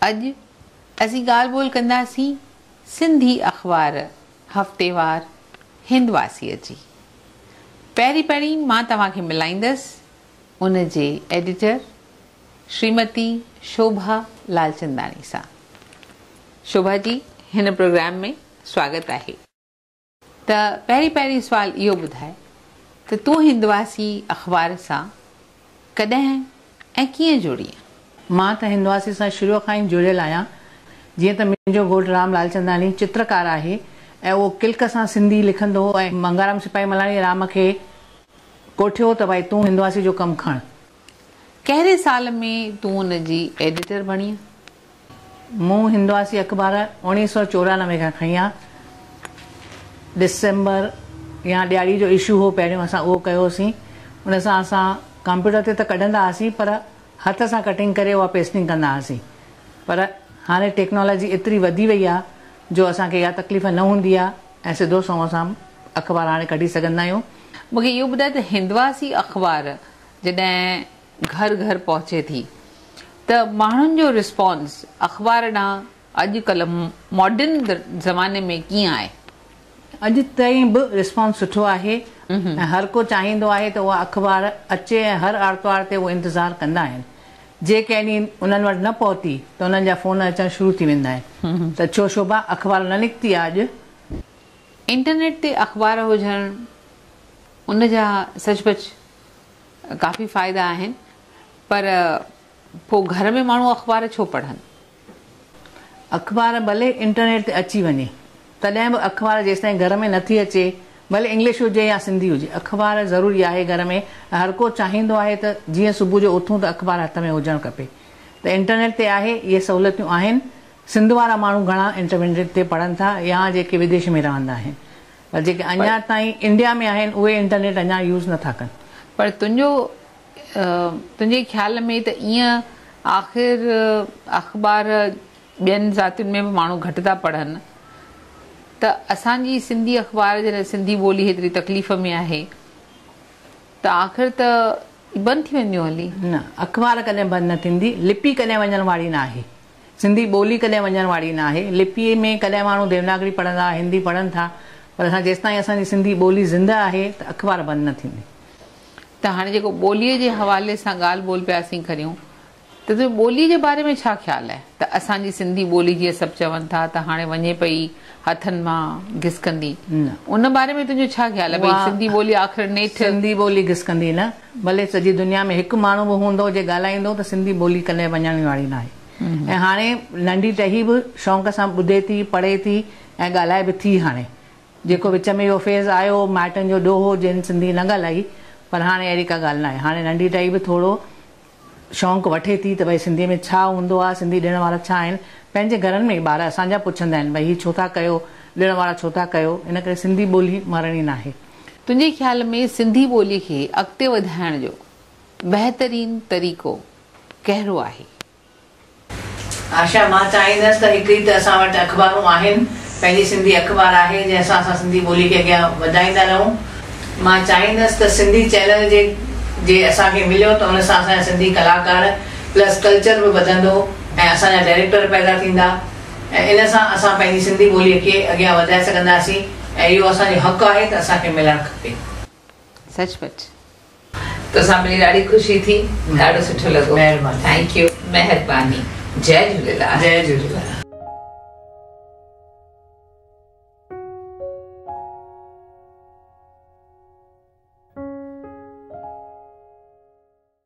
اڄ اسين ڳالهه ٻولهه ڪنداسين سنڌي اخبار هفتيوار هندواسيء جي. پهرين پهرين مان توهان کي ملائيندس ان جي ايڊيٽر شريمتي شوڀا لالچنداڻي سان. شوڀا جي هن پروگرام ۾ سواگت آهي. ته پهرين پهرين سوال اهو ٻڌاء ته تون هندواسي اخبار سان ڪڏهن ۽ ڪيئن جڙيئين؟ مان ته هندواسي سان شروع کان ئي جڙيل آهيان. جيئن ته منهنجو گهوٽ رام لالچنداڻي چترڪار آهي ۽ اهو ڪلڪ سان سنڌي لکندو هو ۽ منگهارام سپاهي ملاڻي رام کي ڪوٺيو ته ڀائي تون هندواسي جو ڪم کڻ. ڪهڙي سال ۾ تون ان جي ايڊيٽر بڻينء؟ مون هندواسي اخبار اوڻيهه سؤ چورانوي کان کڻي آ ڊسمبر يا ڏياري جو اشو هو پهريون اسان اهو ڪيو هوسين ان سان اسان ڪمپيوٽر تي ته ڪڍندا هئاسين پر هٿ سان ڪٽنگ ڪري اها پيسٽنگ ڪندا هئاسين پر هاڻي ٽيڪنالاجي ايتري وڌي وئي آ جو اسان کي اها تڪليف نه هوندي آ ۽ سڌو سنئون اسان اخبار هاڻي ڪڍي سگهندا آهيون. مون کي اهو ٻڌاء ته هندواسي اخبار جڏهن گهر گهر پهچي ٿي ته ماڻهن جو رسپانس اخبار ڏانهن اڄ ڪلهه ماڊرن زماني ۾ ڪيئن آهي؟ اڄ تائين به رسپانس سٺو آهي ۽ هر ڪو چاهيندو آهي ته اها اخبار اچي ۽ هر آرتوار تي اهو انتظار ڪندا آهن. جي ڪنهن ڏينهن انهن وٽ نه پهتي ته انهن جا فون اچڻ شروع ٿي ويندا آهن ته ڇو شوڀا اخبار نه نڪتي آ اڄ؟ انٽرنيٽ تي اخبار هجڻ ان جا سچ پچ ڪافي فائدا آهن پر پو گهر ۾ ماڻهو اخبار ڇو پڙهن. اخبار ڀلي انٽرنيٽ تي اچي وڃي تڏهن به اخبار جيستائين گهر ۾ نٿي اچي ڀلي انگلش هجي يا سنڌي هجي اخبار ضروري آهي گهر ۾ هرڪو چاهيندو آهي ته جيئن صبح جو اٿون ته اخبار هٿ ۾ هجڻ کپي ته انٽرنيٽ تي آهي اهي سهولتيون آهن سنڌ وارا ماڻهو گهڻا انٽرنيٽ تي پڙهن ٿا يا جيڪي وديش ۾ رهندا آهن پر جيڪي اڃا تائين انڊيا ۾ آهن اهي انٽرنيٽ اڃا يوز نٿا ڪن. پر تنهنجو تنهنجي خيال ۾ ته ائين آخر اخبار ٻين ذاتين ۾ به ماڻهو گهٽ ٿا پڙهن ته اسان جي سنڌي اخبار جڏهن سنڌي ٻولي هيتري تڪليف ۾ آهي ته آخر ته بند ٿي وينديون هلي. نه اخبار ڪڏهن بند نه ٿيندي لپي ڪڏهن وڃڻ واري ناهي. سنڌي ٻولي ڪڏهن وڃڻ واري نه آهي. لپيء ۾ ڪڏهن ماڻهو ديوناگري پڙهندا، هندي پڙهن ٿا، پر اسان جيستائين اسان جي سنڌي ٻولي زندهه آهي ته اخبار بند نه ٿيندي. ته هاڻي جيڪو ٻوليء جي حوالي سان ڳالهه ٻولهه پيا اسين ڪريون ته تنهنجو ٻوليء جي باري ۾ ڇا خيال آهي ته اسان جي سنڌي ٻولي جيئن سڀ چون ٿا ته هاڻي وڃي پئي هٿن مان گسڪندي ان باري ۾ تنهنجو ڇا خيال آهي ڀئي سنڌي ٻولي آخر نيٺ سنڌي ٻولي گسڪندي نه. ڀلي سڄي دنيا ۾ هڪ ماڻهو به هوندو جي ڳالهائيندو ته سنڌي ٻولي ڪڏهن وڃڻ واري ناهي ۽ هاڻي ننڍي ٽهي به شونق سان ٻڌي ٿي پڙهي ٿي ۽ ڳالهائي به ٿي هاڻي جيڪو وچ ۾ اهو فيز آيو مائٽن جو ڏوهو جن سنڌي نه ڳالهائي پر هاڻي اهڙي ڪا ڳالهه ناهي هاڻي ننڍي ٽهي به ٿورو شونق وٺي ٿي ته ڀئي سنڌي ۾ ڇا هوندو آهي سنڌي ڏڻ وارا ڇا آهن پنهنجي گهرن ۾ ٻار اسان جا پڇندا آهن ڀئي هي ڇو ٿا ڪيو ڏڻ وارا ڇو ٿا ڪيو ان ڪري سنڌي ٻولي مرڻي ناهي. تنهنجي خيال ۾ سنڌي ٻولي کي اڳتي وڌائڻ جو بهترين طريقو ڪهڙو آهي؟ آشا، مان چاهيندس ته هڪ ئي ته اسان وٽ اخبارون آهن، پنهنجي سنڌي اخبار آهي جنهن سان اسان سنڌي ٻولي کي اڳيان وڌائيندا رهون. مان چاهيندس ته سنڌي چينل جي جي اسان کي مليو ته ان سان اسان جا سنڌي ڪلاڪار پلس ڪلچر به وڌندو ۽ اسان جا ڊائريڪٽر پيدا ٿيندا. ۽ ان سان اسان پنهنجي سنڌي ٻوليء کي اڳيان وڌائي سگهنداسين ۽ اهو اسان جو حق آهي ته اسان کي ملڻ کپي. سچ پچ. توسان ملي ڏاڍي خوشي ٿي. ڏاڍو سٺو لڳو. مهرباني. Thank you. مهرباني. جئي جهوليلال. جئي جهوليلال.